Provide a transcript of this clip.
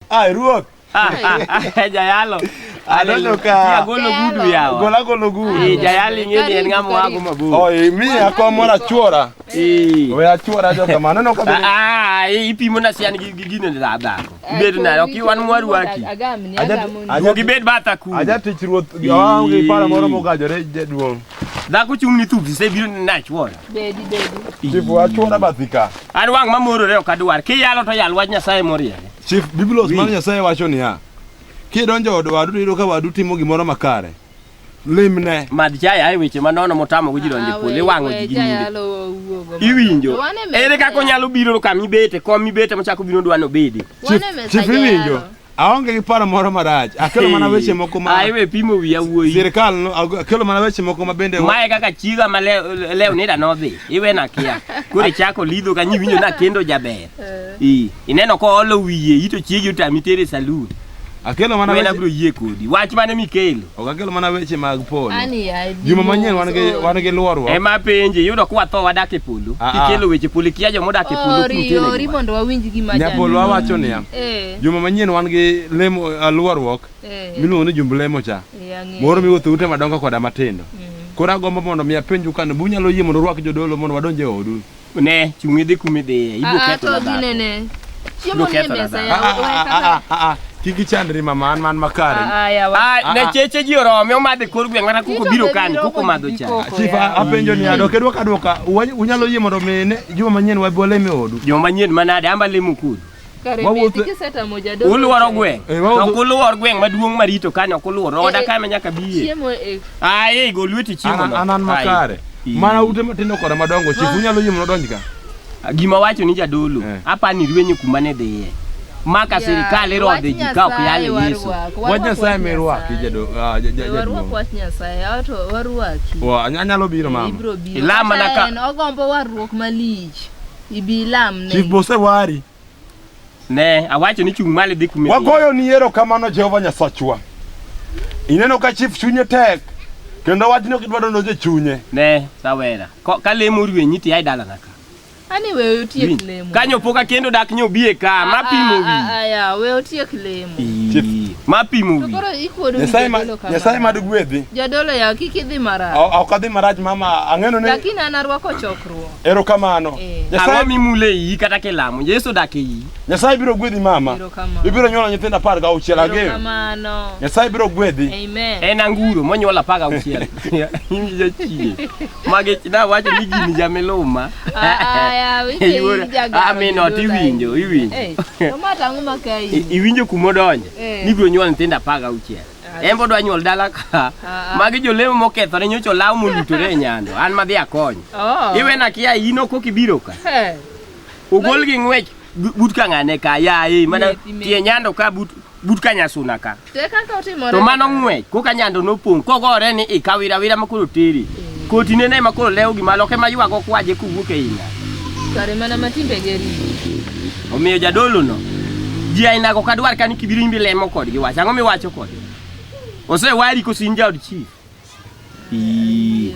Ah, ruok. Ah, ah, jayalo. Adonjo ka. Agolo gudu yawa. Gola golo gudu. Eh, jayalo ing'eni en ng'ama wago mabor. Oh, eh, mi akwa mora chuora. Eh. We achuora jo kamano no kabiri. Ah, eh, ipimo na sian gi gino da da. Bed na ok wan mwaru aki. Agamni agamni. Ajo gibed bata ku. Aja tich ruoth. Yo, ngi para moro mogajore jaduong'. Dhako chung' ni thup, se biro na chuora. Bedi bedi. Chief wachuona bathika. An wang' mamorore ok adwar. Kiyalo to yal wach Nyasaye moriere. Chief Biblos mar Nyasaye wacho niya, kidonjo od wadu to iyudo ka wadu timo gimoro makare, limne. Mad jaya ae weche manono motamo ji donjo e polo iwang'o ji gi nyiri. Iwinjo. Ere kaka onyalo biro ka mibete kom mibete mochako biro dwano bedi. Chief iwinjo. Aonge gi paro moro marach. Akelo mana weche moko ma Ai we pimo wiya wuoyi. Sirkal no akelo mana weche moko ma bende Mae kaka chiga ma lew nida nodhi. Iwe na kia. Kure chako lidho ka nyiwinjo na kendo jaber. I ineno ko olo wiye ito chiegi utami tere saloon. Akelo mana weche. Abro yie kodi. Wach mane mikelo? Ok akelo mana weche mag polo. Juma manyien wan gi wan gi luorwa. Ema penje yudo kwa tho wadak e polo. Ah, ah. Kikelo weche polo kia jo modak e polo kutene. Ori ori mondo wawinj gima jani. Nyapolo awacho niya. Eh. Juma manyien wan gi lemo alwaruok Eh, miluongo ni jumb lemo cha. eh, ang'eyo. Moro miwuotho ute madongo koda matindo. Mm. Koro agombo mondo mi apenju kane bu nyalo yie mondo urwak jodolo mondo wadonj e odu. Ne, chung' idhi kuma idhiye. Ibiro Ah, ah, ketho na to dhako. ginene. Chiemo Ibiro nie ketho na mesa dhako. ya, Ah, ah, we ah, kaka- ah, ah, ah. Kik ichandri mama an man makare. Ah, ah, yawa. Ah, Ah, ne ah. cheche ji orome omadhe kor gweng' mana kuko Tito biro be kan biro kuko kod madho cha. gikoko. Chief Koya. apenjo ni adok edwoko adwoka wa- unyalo yie mondo mi ne juma manyien wabi walem e odu. Joma nyien manade amba lemo kudu. Kare Wawuotho- mieti kisetamo jadolo. Uluoro gweng'. Eh, wawuotho- To ok uluor gweng' maduong' marito kanyo ok uluor. Oda Eh, eh. kama nyaka biye. Chiemo e Aye, go lweti chiemo An- no. an an Aye. makare Ii. mana ute matindo koda madongo chief unyalo yie mondo odonj ka Gima wacho ni jadolo, Eh. apani rwenyo kuma ne dhiye. Maka sirikal irodhe ji ka ok yale Yesu. wach nyasaye mirwaki jado- ah, ja- ja- Warwak jaduong' wach Nyasaye, awa to warwaki. Wa, any- anyalo biro mama Ibro biro. Ilama na Kata ka- en ogombo warruok malich. Ibi ilam ne. Chief Bose wari. Ne, awacho ni chung' malo idhi kumi. Wagoyo ni yero kamano Jehova Nyasachwa. Ineno ka chief chunye tek kendo wachno kidwaro noje chunye. Ne, rawera. Ko- Ka lemo rwenyi ti ai dalana ka. Ani we otiek Winj. lemo. Kanyo pok akendo dak nyo biye ka, ma pimo wi. Aya, we otiek lemo. Ii, Ma pimo To wi. koro ikuodo ni Nyasaye ma jadolo kama. Nyasaye mad gwedhi. Jadolo ya kik idhi marach. Ok adhi marach mama, ang'eno ni Lakini an arwako chokruok. Erokamano. Eh. Ang'o Nyasaye mimule iyi kata kilamo? Yesu odak e iyi. Nyasaye biro gwedhi mama. Erokamano. Ibiro nyuolo nyithindo apar gauchiel ageno. Erokamano. Nyasaye biro gwedhi. Amen. En anguro monyuol apar gauchiel. In jachie. Magi nawacho ni gini jamiluma. Ah, yaw, ike Iwuoro- in jagoro Ah, min ot jodolo iwinjo, ahinya. iwinjo. Eh, to ma tang'o ma ka I- in? Iwinjo kumodonje Eh. ni ibiro nyuol nyithindo apar gauchiel. en bodwa nyuol dala ka Ah, ah. magi jolemo mokethore nyocha olaw molutore e nyando an madhi akony Oh. iwena kia in ok ok ibiro ka Hey. ogol gi ng'wech bu- but ka ng'ane ka yaye mana Methi, methi. tie nyando ka but but ka nyasuna ka To e kaka otimore. to mano ng'wech koka nyando nopong' kogore ni ikawira wira makoro teri koti nene makoro lewo gima loke maywago kwaje kowuok e ina Kare mana ma timbe geri. Omiyo jadolono ji ainago ok adwar ka ni kibiro imbi lemo kodgi wach ang'o miwacho kodgi osewari koso in jaod chief Ii.